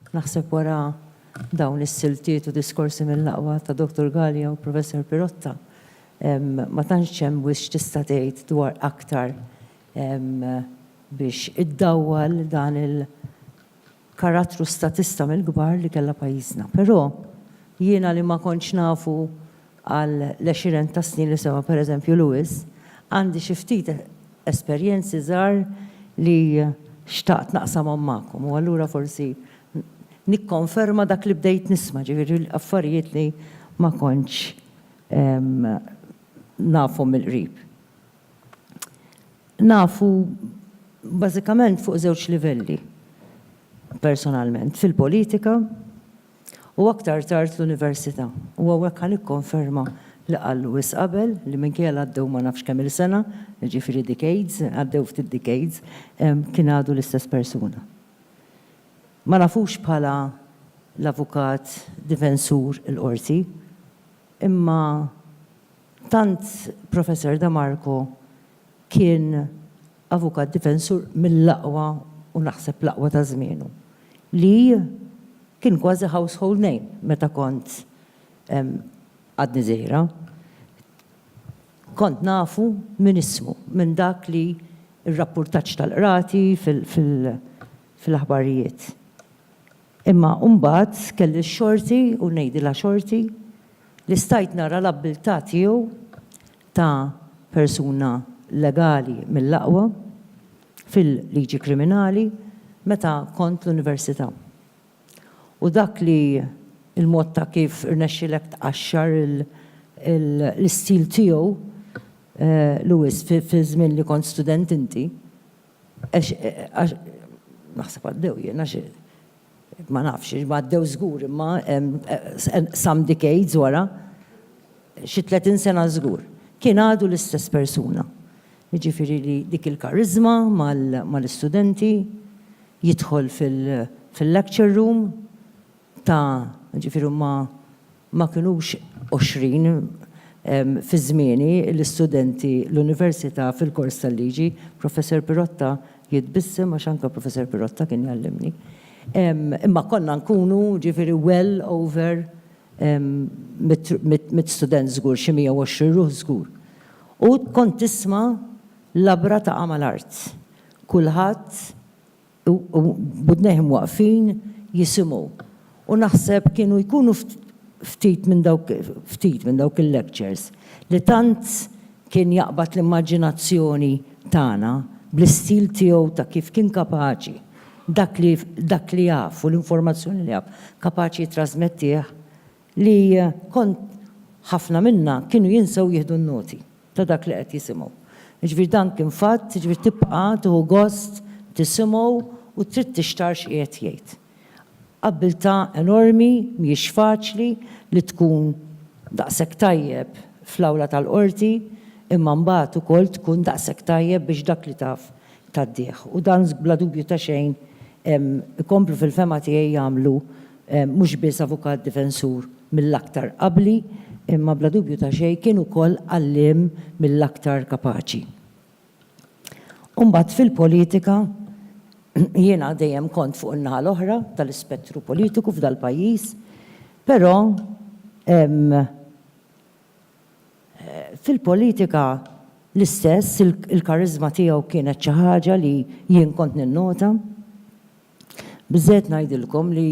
Naħseb wara dawn is-siltiet u diskorsi mill-aqwa ta' Dottor Galea u Professor Pirotta, ma tantx hemm wisq tista' tgħid dwar aktar biex iddawwal dan il- karattru statista mill-kbar li kellha pajjiżna. Però, jiena li ma kontx nafu għal l-għexiren ta' snin li sema' per eżempju Lewis, għandi xi ftit esperjenzi żgħar li xtaqt naqsamhom magħkom u allura forsi nikkonferma dak li bdejt nisma', ġifieri affarijiet li ma kontx nafhom mill-qrib. Nafu bażikament fuq żewġ livelli, personalment, fil-politika u aktar tard l-università, u hawnhekk ħa nikkonferma li qal Lewis qabel li minkejja li għaddew ma nafx kemm-il sena, jiġifieri decades, għaddew ftit decades, kien għadu l-istess persuna. Ma nafux bħala l-avukat difensur il-Qorti, imma. Tant Professor De Marco kien avukat difensur mill-aqwa u naħseb l-aqwa ta' żmienu, li kien kważi household name meta kont għadni żgħira. Kont nafu minn ismu, minn dak li r-rappurtaġġ tal-qrati fil-aħbarijiet. Imma mbagħad kelli x-xorti, u ngħidilha xorti, li stajt nara l-abbiltà tiegħu ta' persuna legali mill-aqwa fil-liġi kriminali meta kont l-università. U dak li l-mod ta' kif rnexxielek tqaxxar l-istil tiegħu, Louis, fiż-żmien li kont student inti. Għax, għax, naħseb għaddew jien, għax, ma nafx, imma għaddew żgur imma, some decades wara, xi tletin sena żgur, kien għadu l-istess persuna. Jiġifieri li dik il-kariżma mal-istudenti, jidħol fil-lecture room, ta' jiġifieri huma ma kinux għoxrin fi żmieni l-istudenti l-Università fil-kors tal-Liġi, Professor Pirotta jitbissem għax anke Professor Pirotta kien jgħallimni, imma konna nkunu jiġifieri well over mitt student żgur, xi 120 ruħ żgur. U kont tisma' labra taqa' mal-art. Kulħadd u b'widnejhom waqfin jisimgħu. U naħseb kienu jkunu ftit minn dawk ftit minn dawk il-lectures li tant kien jaqbad l-immaġinazzjoni tagħna bl-istil tiegħu ta' kif kien kapaċi dak li dak li jaf u l-informazzjoni li jaf kapaċi jittrasmettih li kont ħafna minna kienu jinsew jieħdu n-noti. ta' dak li qed jisimgħu. Jiġifieri dan kien fatt, jiġifieri tibqa' tieħu gost tisimgħu u trid tixtarr x'qiegħed jgħid. Abbiltà enormi, mhijiex faċli li tkun daqshekk tajjeb fl-awla tal-qorti imma mbagħad ukoll tkun daqshekk tajjeb biex dak li taf tad-dieħ. U dan bla dubju ta' xejn ikomplu fil-fehma tiegħi jagħmlu mhux biss avukat difensur mill-aktar abbli, imma bla dubju ta' xejn kien ukoll għalliem mill-aktar kapaċi. U mbagħad fil-politika jiena dejjem kont fuq in-naħa l-oħra tal-ispettru politiku f'dal-pajjiż, però Fil-politika l-istess, il-kariżma tiegħu kienet xi ħaġa li jien kont ninnota. Biżżejjed ngħidilkom li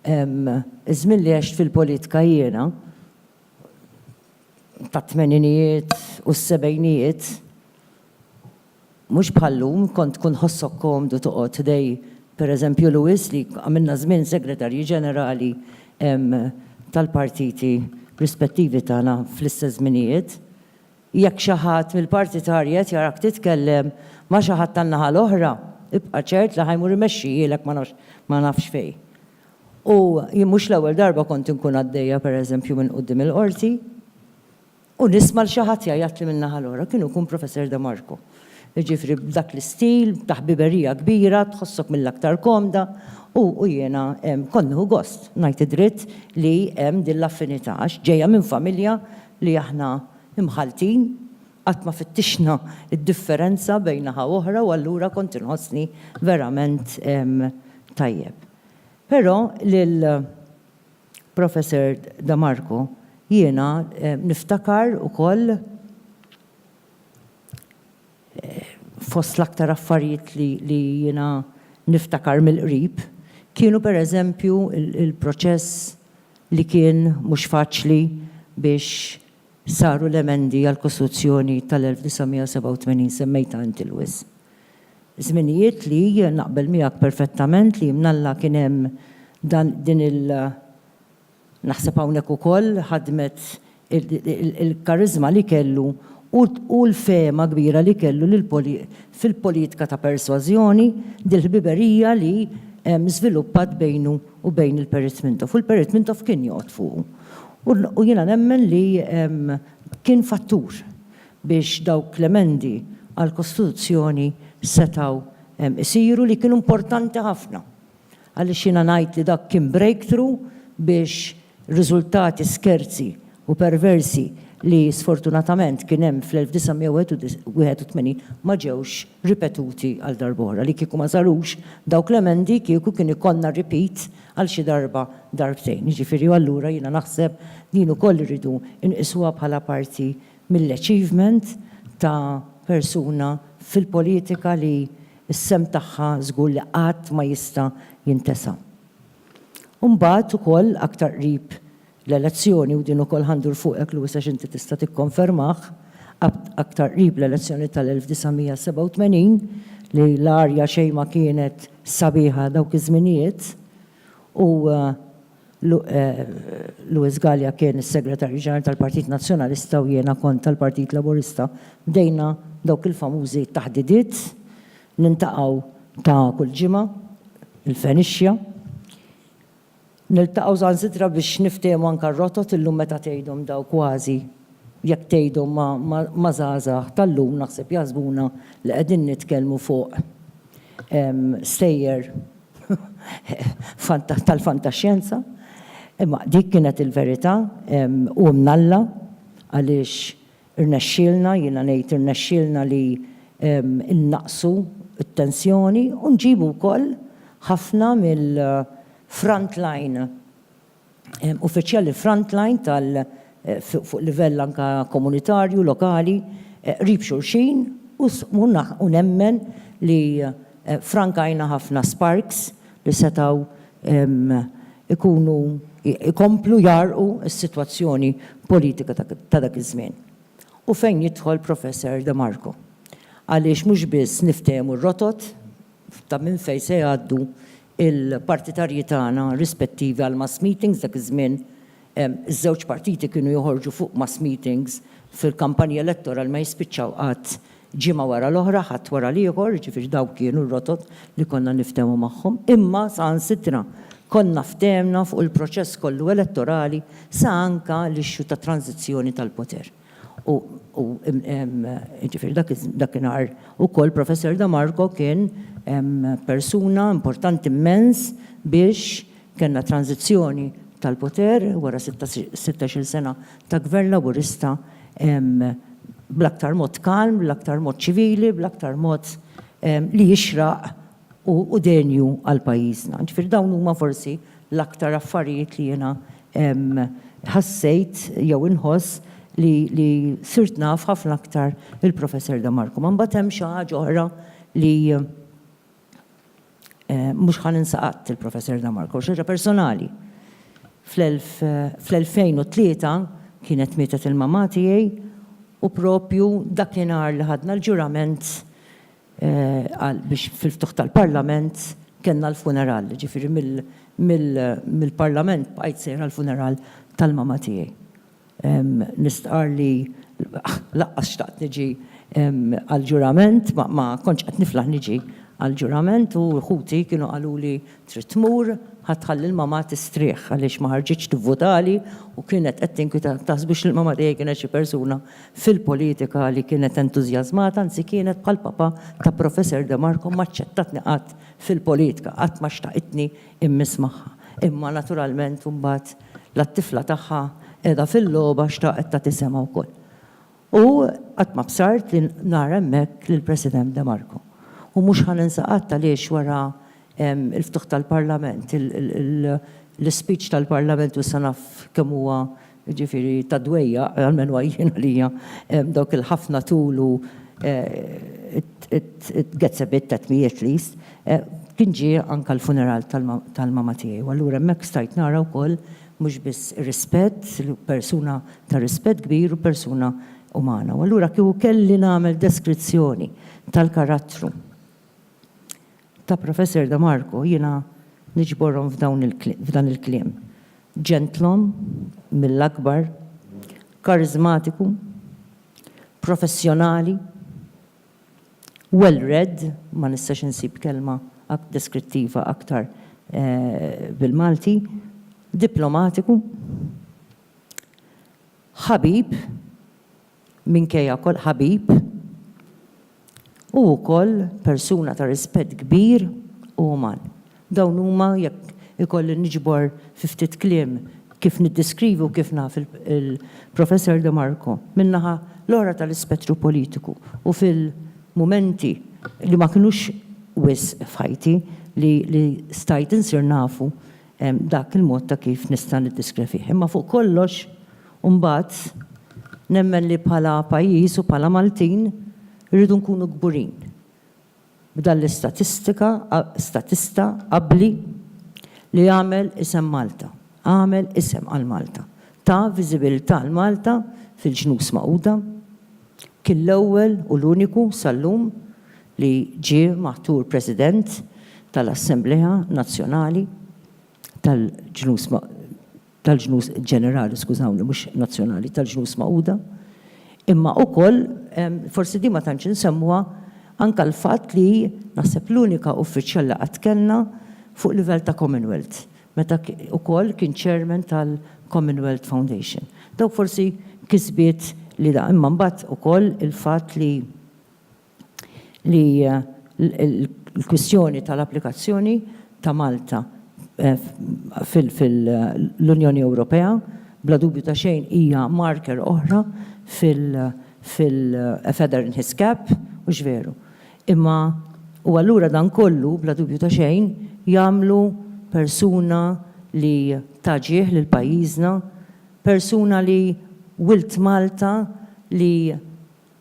ż-żmien li għext fil-politika jiena, tat-tmeninijiet u s-sebgħinijiet, Mhux bħal llum, kont tkun ħossok komdu toqgħod ħdej, per eżempju, Louis li għamilna żmien Segretarji Ġenerali tal-partiti rispettivi tagħna fl-istess żminijiet. Jekk xi ħadd mill-parti t'Ari qed jarak titkellem ma' xi ħadd tan-naħa l-oħra, ibqa' ċert li ħa jmur imexxihielek ma nafx ma nafx fejn. U jien mhux l-ewwel darba kont inkun għaddejja, per eżempju, minn quddiem il-Qorti. U nisma' 'l xi ħadd jgħajjatli min-naħa l-oħra, kien ikun Professor De Marco. Jiġifieri b'dak l-istil, ta' ħbiberija kbira, tħossok mill-aktar komda, u jiena kont nieħu gost, ngħid id-dritt, li hemm din l-affinità, għax ġejja minn familja li aħna mħalltin, qatt ma fittixna d-differenza bejn naħa u oħra u allura kont inħossni verament tajjeb. Però lil. Professor Da Marco, Jiena niftakar ukoll fost l-aktar affarijiet li jiena niftakar mill-qrib kienu per eżempju l-proċess li kien mhux faċli biex saru l-emendi għall-Kostituzzjoni tal-1987, semmejtha inti Louis. Żminijiet li, naqbel miegħek perfettament li mnalla kien hemm dan din il naħseb hawnhekk ukoll ħadmet il-kariżma li kellu u l-fehma kbira li kellu li fil-politika ta' persważjoni dil-ħbiberija li żviluppat bejnu u bejn il-Perit Mintoff u l-Perit Mintoff kien joqgħod fuqu. U jiena nemmen li kien fattur biex dawk l-emendi għall-Kostituzzjoni setgħu jsiru li kienu importanti ħafna għaliex jiena ngħid li dak kien breakthrough biex riżultati skerzi u perversi li sfortunatament kien hemm fl-1981 ma ġewx ripetuti għal darb'oħra. Li kieku ma sarux dawk l-emendi kieku kien ikollna repeat għal xi darba darbtejn. Jiġifieri allura jiena naħseb din ukoll irridu nqisuha bħala parti mill-achievement ta' persuna fil-politika li s-sehem tagħha żgur li qatt ma jista' jintesa. U mbagħad ukoll aktar qrib l-elezzjoni, u din ukoll ħa ndur fuqek Louis għax inti tista' tikkonfermah, aktar qrib l-elezzjoni tal-1987 li l-arja xejn ma kienet sabiħa dawk iż-żminijiet u Louis Galea kien is-Segretarju Ġenerali tal-Partit Nazzjonalista u jiena kont tal-Partit Laburista, bdejna dawk il-famużi taħdidiet, nintaqgħu ta' kull ġimgħa, il-Fenixja. Niltaqgħu saħansitra biex niftehmu anke r-rotot, illum meta tgħidhom dawn kważi jekk tgħidhom ma' żgħażagħ tal-lum naħseb jaħsbuna li qegħdin nitkellmu fuq stejjer tal-fantaxjenza, imma dik kienet il-verità u mnalla għaliex irnexxielna, jiena ngħid irnexxielna li nnaqqsu t-tensjoni u nġibu wkoll ħafna mill-frontline uffiċjali frontline tal fuq livell anke komunitarju, lokali, qrib xulxin u u nemmen li frankajna ħafna sparks li setgħu jkunu jkomplu jgħarrqu s-sitwazzjoni politika ta' dak iż-żmien. U fejn jidħol Professor De Marco. Għaliex mhux biss niftehmu r-rotot ta' minn fejn se jgħaddu il-partitarji tagħna rispettivi għal mass meetings, dak iż-żmien iż-żewġ partiti kienu joħorġu fuq mass meetings fil-kampanji elettorali ma jispiċċaw qatt ġimgħa wara l-oħra, ħadd wara l-ieħor, jiġifieri dawk kienu r-rotot li konna niftehmu magħhom. Imma saħansitra konna ftehemna fuq il-proċess kollu elettorali sa anke l-issue tat-tranżizzjoni tal-poter. U, u, jiġifieri dak iż, dakinhar ukoll Professor Da Marco kien persuna importanti immens biex kellna tranżizzjoni tal-poter wara sitta, sittax-il sena ta' Gvern Laburista bl-aktar mod kalm, bl-aktar mod ċivili, bl-aktar mod li jixraq u denju għal pajjiżna. Ġifieri dawn huma forsi l-aktar affarijiet li jiena ħassejt jew inħoss li li sirt naf ħafna aktar il-Professor De Marco. Ma mbagħad hemm xi ħaġa oħra li mhux ħa ninsa qatt il-Professor De Marco, xi ħaġa personali. Fl-2003 kienet mietet il-mamà tiegħi u proprju dakinhar li ħadna l-ġurament qal biex fil-ftuħ tal-Parlament kellna l-funeral, jiġifieri mill-Parlament bqajt sejr għall-funeral tal-mama tiegħi. Nistqarr li lanqas xtaqt niġi għall-ġurament, ma kontx qed niflaħ niġi għall-ġurament u ħuti kienu qaluli Trid tmur? Ħa tħalli l-mamà tistrieħ għaliex ma ħarġitx tivvotali u kienet qed tinkwita. Taħsbux li l-mamà tiegħi kienet xi persuna fil-politika li kienet entużjażmata, anzi kienet bħal papà ta' Professor De Marco m'aċċettatni qatt fil-politka, qatt ma xtaqitni mmiss magħha. Imma naturalment imbagħad la t-tifla tagħha qiegħda fil-logħba xtaqet tagħti semha wkoll. U qatt ma bsart li nara hemmhekk lill-President De Marco. U mhux ħa ninsa qatt għaliex wara l-ftuħ tal-Parlament, l-ispeech tal-Parlament u issa naf kemm huwa jiġifieri ta' dwejjaq, almenu jien għalija, dawk il-ħafna tul u it gets a bit at me at least, kien ġie anke l-funeral tal-mama tiegħi u allura hemmhekk stajt nara wkoll Mhux biss rispett, persuna ta' rispett kbir u persuna umana. U allura kieku kelli nagħmel deskrizzjoni tal-karattru ta' Professor De Marco jiena niġborhom f'dawn f'dan il-kliem, ġentlom mill-akbar, kariżmatiku, professjonali, Well read, ma nistax insib kelma deskrittiva aktar bil-Malti. Diplomatiku. Ħabib, minkejja kol, ħabib. U wkoll persuna ta' rispett kbir u uman. Dawn huma, jekk ikolli niġbor fi ftit kliem kif niddeskrivi u kif naf il-Professor De Marco, min-naħa l-oħra tal-ispettru politiku u fil-mumenti li ma kinux wisq f'ħajti li stajt insir nafu dak il-mod ta' kif nista' niddiskri fih. Imma fuq kollox imbagħad nemmen li bħala pajjiż u bħala Maltin irridu nkunu kburin B'dan l-istatistika, statista abbli li għamel isem Malta, għamel isem għal Malta, ta viżibilità 'l Malta fil-Ġnus Magħquda, kien l-ewwel u l-uniku sal-lum li ġie maħtur President tal-Assemblea Nazzjonali tal-Ġnus tal-ġnus, ġenerali skużawni mhux nazzjonali, tal-Ġnus Magħquda, imma wkoll, forsi din ma tantx insemmuha, anke l-fatt li hi naħseb l-unika uffiċjal li qatt kellna fuq livell ta' Commonwealth, meta wkoll kien Chairman tal-Commonwealth Foundation. Dawk forsi kisbiet li da. Imma mbagħad ukoll il-fatt li. li l-kwistjoni tal-applikazzjoni ta' Malta fil-Unjoni Ewropea bla dubju ta' xejn hija marker oħra fil-a feather in his cap, hux veru? Imma u allura dan kollu bla dubju ta' xejn jagħmlu persuna li ta ġieħ lil pajjiżna, persuna li wilt Malta li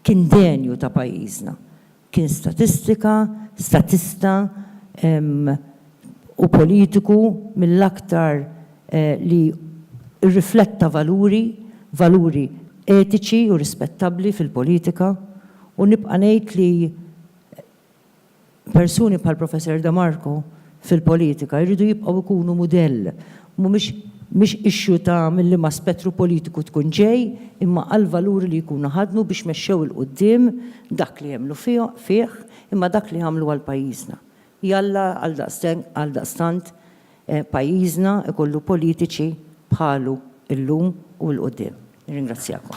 Kien denju ta' pajjiżna. Kien statistika, statista u politiku mill-aktar li rrifletta valuri, valuri etiċi u rispettabbli fil-politika u nibqa' ngħid li persuni bħal Professor De Marco fil-politika jridu jibqgħu jkunu mudell. Mhumiex mhix issue ta' minn liema spettru politiku tkun ġej, imma għall-valuri li jkunu ħadnu biex mexxew 'il quddiem dak li jemmnu fih, imma dak li għamlu għal pajjiżna. Jalla għaldaqstant pajjiżna jkollu politiċi bħalu llum u 'l quddiem. Nirringrazzjakom.